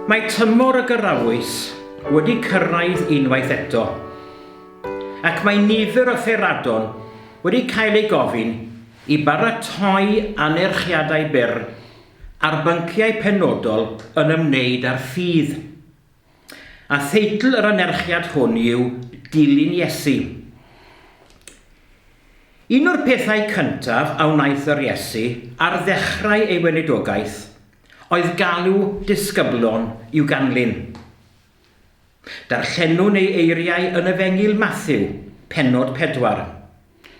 Mae tymor y gyrraoes wedi cyrraedd unwaith eto, ac mae nifer o theradon wedi cael ei gofyn i baratoi anerchiadau byr ar bynciau penodol yn ymwneud â'r ffydd. A theitl yr anerchiad hwn yw Dilyn Iesu. Un o'r pethau cyntaf a wnaeth yr Iesu ar ddechrau ei weinidogaeth oedd galw disgyblion i'w ganlyn. Darllenwn ei eiriau yn Efengyl Mathew, pennod pedwar,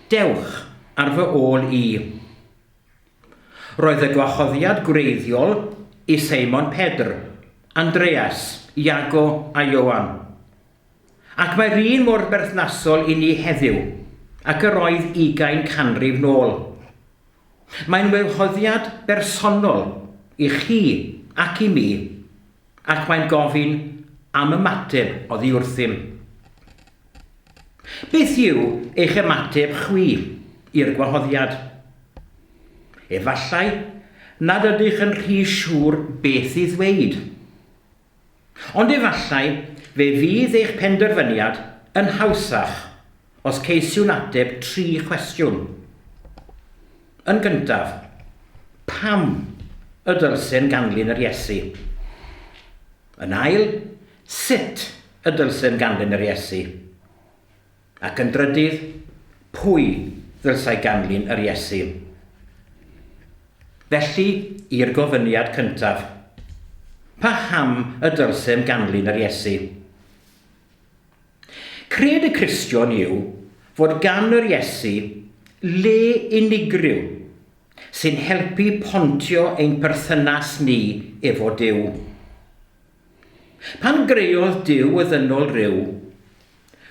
Dewch ar fy ôl i. Roedd y gwahoddiad gwreiddiol i Seimon Pedr, Andreas, Iago a Ioan. Ac mae'r un mor berthnasol i ni heddiw ac yr oedd ugain canrif nôl. Mae'n waehoddiad bersonol i chi ac i mi. Ac mae'n gofyn am ymateb oddi wrthym. Beth yw eich ymateb chwi i'r gwahoddiad? Efallai nad ydych yn rhy siŵr beth i ddweud. Ond efallai fe fydd eich penderfyniad yn hawsach Os ceisiwn ateb tri chwestiwn. Yn gyntaf, pam y dylsem ganlyn yr Iesu? Yn ail, sut y dylsem ganlyn yr Iesu? Ac yn drydydd, pwy ddylsai ganlyn yr Iesu? Felly, i'r gofyniad cyntaf. Paham y dylsem ganlyn yr Iesu? Cred y Cristion yw fod gan yr Iesu le unigryw sy'n helpu pontio ein perthynas ni efo Duw. Pan greodd Duw y ddynol ryw,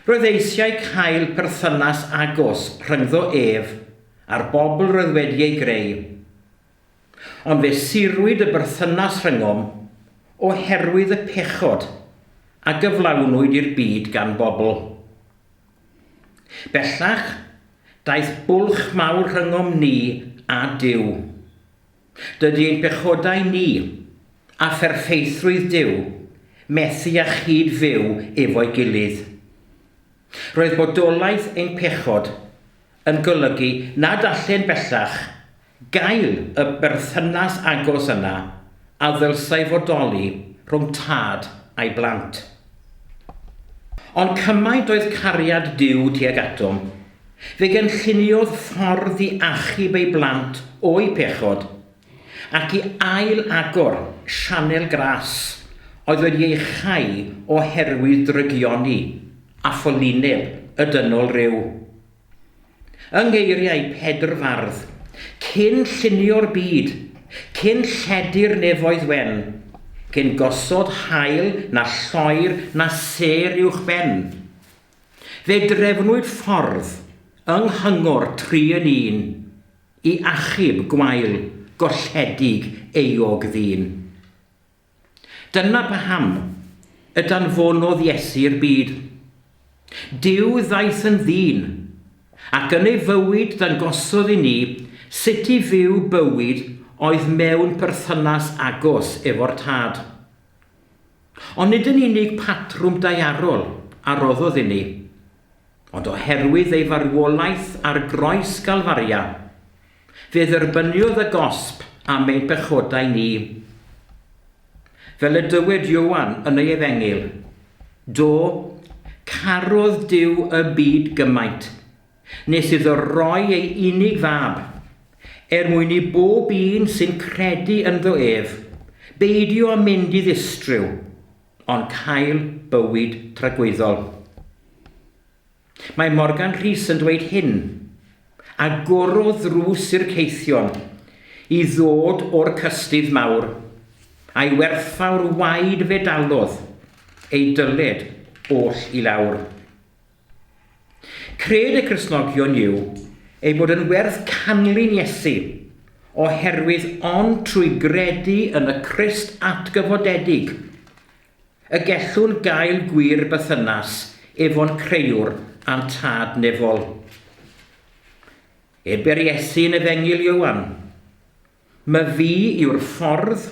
roedd eisiau cael perthynas agos rhyngddo ef a'r bobl roedd wedi ei greu. Ond fe sirwyd y berthynas rhyngom oherwydd y pechod a gyflawnwyd i'r byd gan bobl. Bellach, daeth bwlch mawr rhyngom ni a Duw. Dydy ein pechodau ni, a pherffeithrwydd Duw, methu â chyd-fyw efo'i gilydd. Roedd bodolaeth ein pechod yn golygu nad allen bellach Gael y berthynas agos yna a ddylsai fodoli rhwng tad a'i blant. Ond cymaint oedd cariad Duw tuag atom, fe gynlluniodd ffordd i achub ei blant o'u pechod, ac i ail-agor sianel gras oedd wedi ei chau oherwydd drygioni a pholyneb y dynol ryw. Yng ngeiriau Pedr Fardd, cyn llunio'r byd, cyn lledu'r nefoedd wen, cyn gosod haul na lloer na sêr uwch ben, fe drefnwyd ffordd yng nghyngor tri yn un i achub gwael golledig euog ddyn. Dyna paham y danfonodd Iesu i'r byd. Duw ddaeth yn ddyn, ac yn ei fywyd dangosodd i ni sut i fyw bywyd oedd mewn perthynas agos efo'r Tad. Ond nid yn unig patrwm daearol a roddodd i ni, ond oherwydd ei farwolaeth ar groes Galfaria, Fe dderbyniodd y gosb am ein pechodau ni. Fel y dywed Ioan yn ei efengyl, Do, carodd Duw y byd gymaint, nes iddo roi ei unig fab, er mwyn i bob un sy'n credu ynddo ef, beidio â mynd i ddistryw, ond cael bywyd tragwyddol. Mae Morgan Rhys yn dweud hyn. Agorodd ddrws i'r caethion i ddod o'r cystudd mawr, a'i werthfawr waed fe dalodd ei dyled oll i lawr. Cred y Cristnogion yw ei bod yn werth canlyn Iesu, oherwydd ond trwy gredu yn y Crist atgyfodedig Y gellwn gael gwir bythynas efo'n Crëiwr a'n Tad Nefol. Ebe'r Iesu yn Efengyl Ioan, Ma fi yw'r ffordd,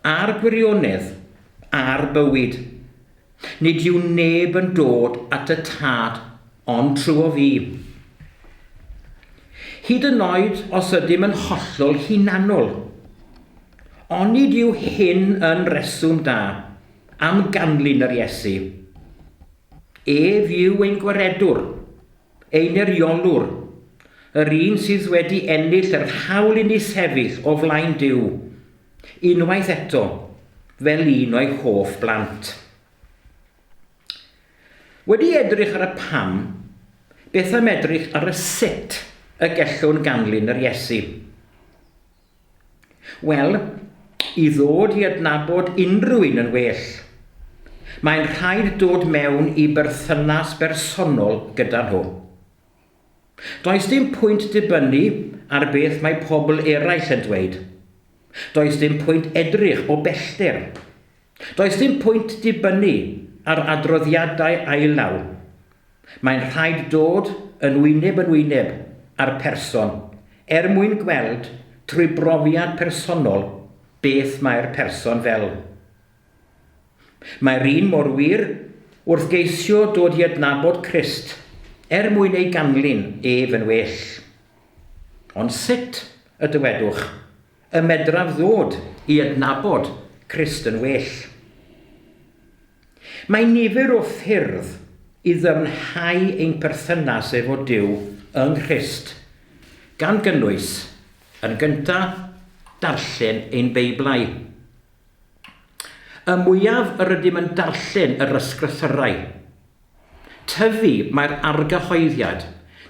a'r gwirionedd, a'r bywyd. Nid yw neb yn dod at y Tad ond trw'o fi. Hyd yn oed os ydym yn hollol hunanol. Onid yw hyn yn reswm da am ganlyn yr Iesu? Ef yw ein gwaredwr, ein eiriolwr, yr un sydd wedi ennill yr hawl i ni sefyll o flaen Duw, unwaith eto, fel un o'i hoff blant. Wedi edrych ar y pam, beth am edrych ar y sut y gellwn ganlyn yr Iesu? Wel, i ddod i adnabod unrhyw un yn well, mae'n rhaid dod mewn i berthynas bersonol gyda nhw. Does dim pwynt dibynnu ar beth mae pobl eraill yn dweud. Does dim pwynt edrych o bellter Does dim pwynt dibynnu ar adroddiadau ail-law. Mae'n rhaid dod yn wyneb yn wyneb â'r person er mwyn gweld trwy brofiad personol beth mae'r person fel. Mae'r un mor wir wrth geisio dod i adnabod Crist er mwyn ei ganlyn ef yn well. Ond sut, y dywedwch, Y medraf ddod i adnabod Crist yn well. Mae nifer o ffyrdd i ddyfnhau ein perthynas efo Duw yng Nghrist, gan gynnwys, yn gyntaf, darllen ein Beiblau. Y mwyaf yr ydym yn darllen yr Ysgrythyrau, Tyfu, mae'r argyhoeddiad,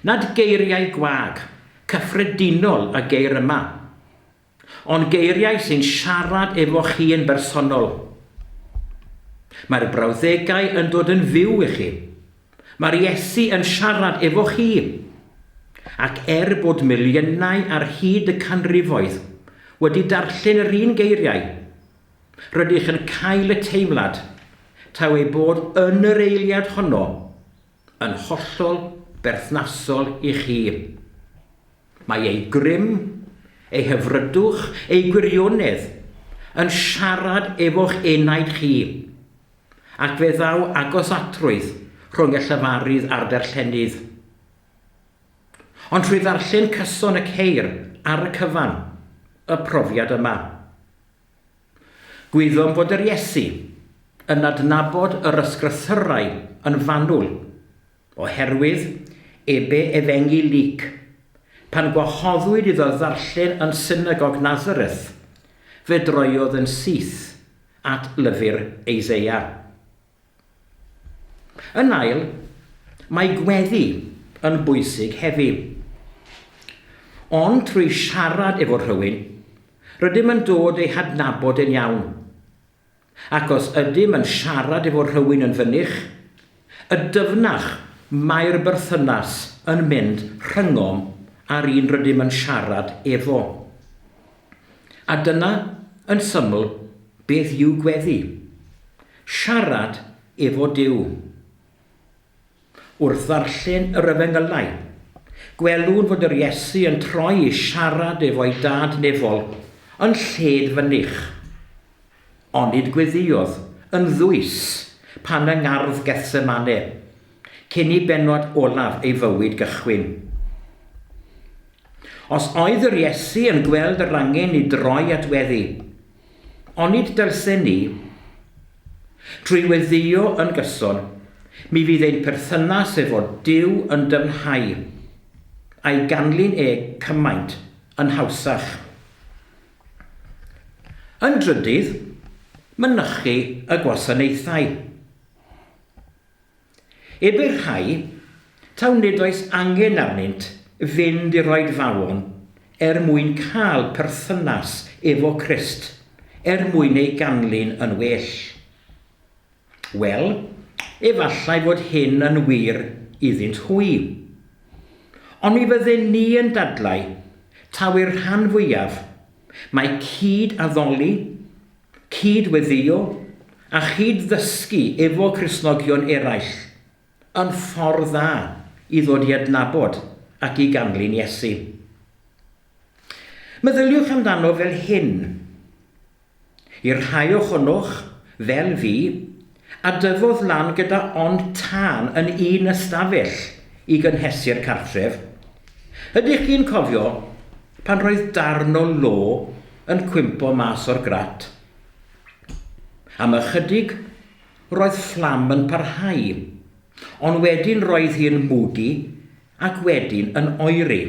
nad geiriau gwag, cyffredinol y geir yma, ond geiriau sy'n siarad efo chi yn bersonol. Mae'r brawddegau yn dod yn fyw i chi. Mae'r Iesu yn siarad efo chi. Ac er bod miliynau ar hyd y canrifoedd wedi darllen yr un geiriau, Rydych yn cael y teimlad taw ei bod yn yr eiliad honno yn hollol berthnasol i chi. Mae ei grym, ei hyfrydwch, ei gwirionedd yn siarad efo'ch enaid chi, ac fe ddaw agosatrwydd rhwng y llefarydd a'r darllenydd. Ond trwy ddarllen cyson y ceir ar y cyfan, y profiad yma, Gwyddom bod yr Iesu yn adnabod yr ysgrythyrau yn fanwl, oherwydd ebe efengyl Luc, pan gwahoddwyd iddo ddarllen yn synagog Nazareth, fe droiodd yn syth at lyfr Eiseia. Yn ail, mae gweddi yn bwysig hefi. Ond trwy siarad efo rhywun, rydym yn dod ei hadnabod e'n iawn. Ac os ydym yn siarad efo rhywun yn fynych, y dyfnach mae'r berthynas yn mynd rhyngom a'r un rydym yn siarad efo. A dyna, yn syml, beth yw gweddi. Siarad efo Duw. Wrth ddarllen yr Efengylau, gwelwn fod yr Iesu yn troi i siarad efo'i Dad nefol yn lled fynych. Onid gweddïodd yn ddwys pan yng ngardd Gethsemane, cyn i bennod olaf ei fywyd gychwyn? Os oedd yr Iesu yn gweld yr angen i droi at weddi, Onid dylsen ni, trwy weddïo yn gyson, mi fydd ein perthynas efo Duw yn dyfnhau, a'i ganlyn e cymaint yn hawsach? Yn drydydd, mynychu y gwasanaethau. Ebyr rhai, taw nid oes angen arnynt fynd i'r oedfaon er mwyn cael perthynas efo Crist, er mwyn ei ganlyn yn well. Wel, efallai fod hyn yn wir iddynt hwy. Ond mi fydden ni yn dadlau, taw i'r rhan fwyaf, mae cyd-addoli, Cyd-weddïo a chyd-ddysgu efo Cristnogion eraill yn ffordd dda i ddod i adnabod ac i ganlyn Iesu. Meddyliwch amdano fel hyn, I'r rhai ohonoch, fel fi, A dyfodd lan gyda ond tân yn un ystafell i gynhesu'r cartref. Ydych chi'n cofio pan roedd darn o lo yn cwympo mas o'r grat? Am ychydig roedd fflam yn parhau, ond wedyn roedd hi'n mwdu ac wedyn yn oeri.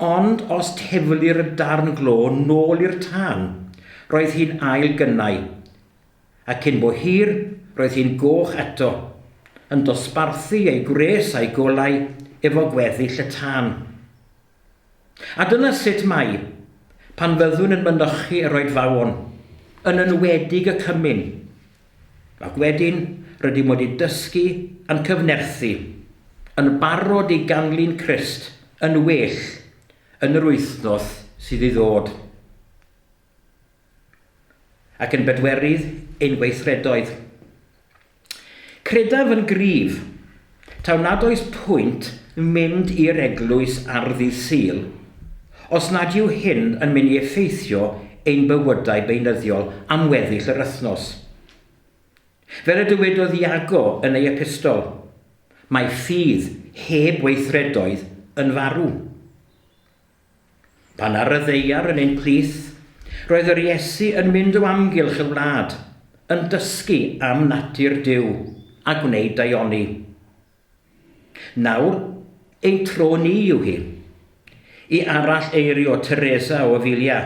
Ond os tefulir y darn glo nôl i'r tân, roedd hi'n ail gynnau, a cyn bo hir, roedd hi'n goch eto, yn dosbarthu ei gwres a'i golau efo gweddill y tân. A dyna sut mae, pan fyddwn yn mynychu yr oedfaon, yn enwedig y cymun, Ac wedyn, rydym wedi dysgu, yn cyfnerthu, yn barod i ganlyn Crist yn well yn yr wythnos sydd i ddod. Ac yn bedwerydd, ein gweithredoedd. Credaf yn gryf Taw nad oes pwynt mynd i'r eglwys ar ddydd Sul os nad yw hyn yn mynd i effeithio ein bywydau beunyddiol am weddill yr wythnos. Fel y dywedodd Iago yn ei epistol, mae ffydd heb weithredoedd yn farw. Pan ar y ddaear yn ein plith, roedd yr Iesu yn mynd o amgylch y wlad, yn dysgu am natur Duw a gwneud daioni. Nawr, ein tro ni yw hi. I arall eirio Teresa o Avilia,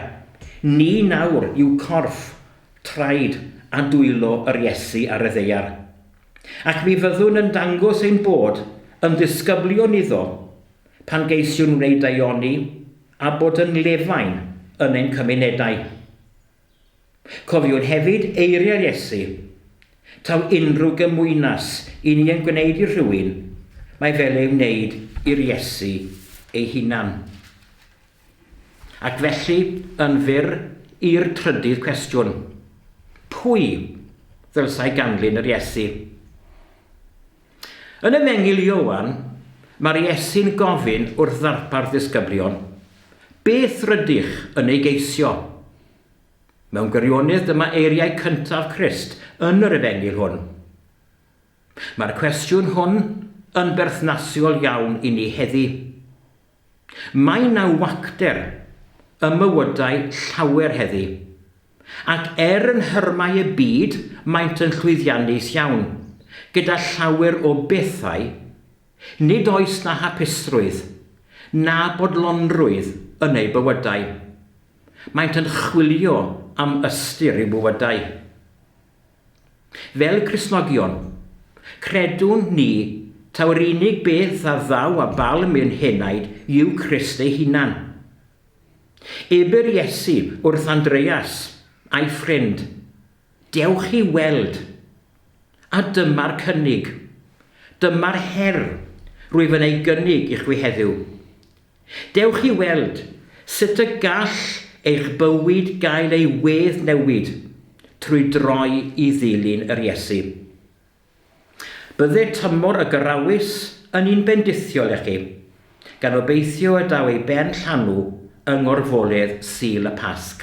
ni nawr yw corff, traed a dwylo yr Iesu ar y ddaear. Ac mi fyddwn yn dangos ein bod yn ddisgyblion iddo, Pan geisiwn wneud daioni a bod yn lefain yn ein cymunedau. Cofiwn hefyd eiriau Iesu, Taw unrhyw gymwynas i ni yn gwneud i rhywun, mae fel ei wneud i'r Iesu ei hunan. Ac felly, yn fyr, i'r trydydd cwestiwn, Pwy ddylsai ganlyn yr Iesu? Yn Efengyl Ioan, mae'r Iesu'n gofyn wrth ddarpar ddisgyblion, Beth rydych yn ei geisio? Mewn gwirionydd dyma eiriau cyntaf Crist yn yr Efengyl hwn. Mae'r cwestiwn hwn yn berthnasiol iawn i ni heddi. Mae 'na wacter ym mywydau llawer heddi, ac er yn nhyrmau y byd maent yn llwyddiannus iawn gyda llawer o bethau, nid oes 'na hapusrwydd na bodlonrwydd yn eu bywydau. Maent yn chwilio am ystyr i'w bywydau. Fel Cristnogion, credwn ni taw'r unig beth a ddaw â balm i'n henaid yw Crist ei hunan. Ebyr Iesu wrth Andreas a'i ffrind, Dewch i weld! A dyma'r cynnig. Dyma'r her rwyf yn ei gynnig i chwi heddiw. Dewch i weld sut y gall eich bywyd gael ei weddnewid trwy droi i ddilyn yr Iesu. Bydde tymor y Gyrawys yn un bendithiol i chi, gan obeithio y daw ei ben llanw yng ngorfoledd Sul y Pasg.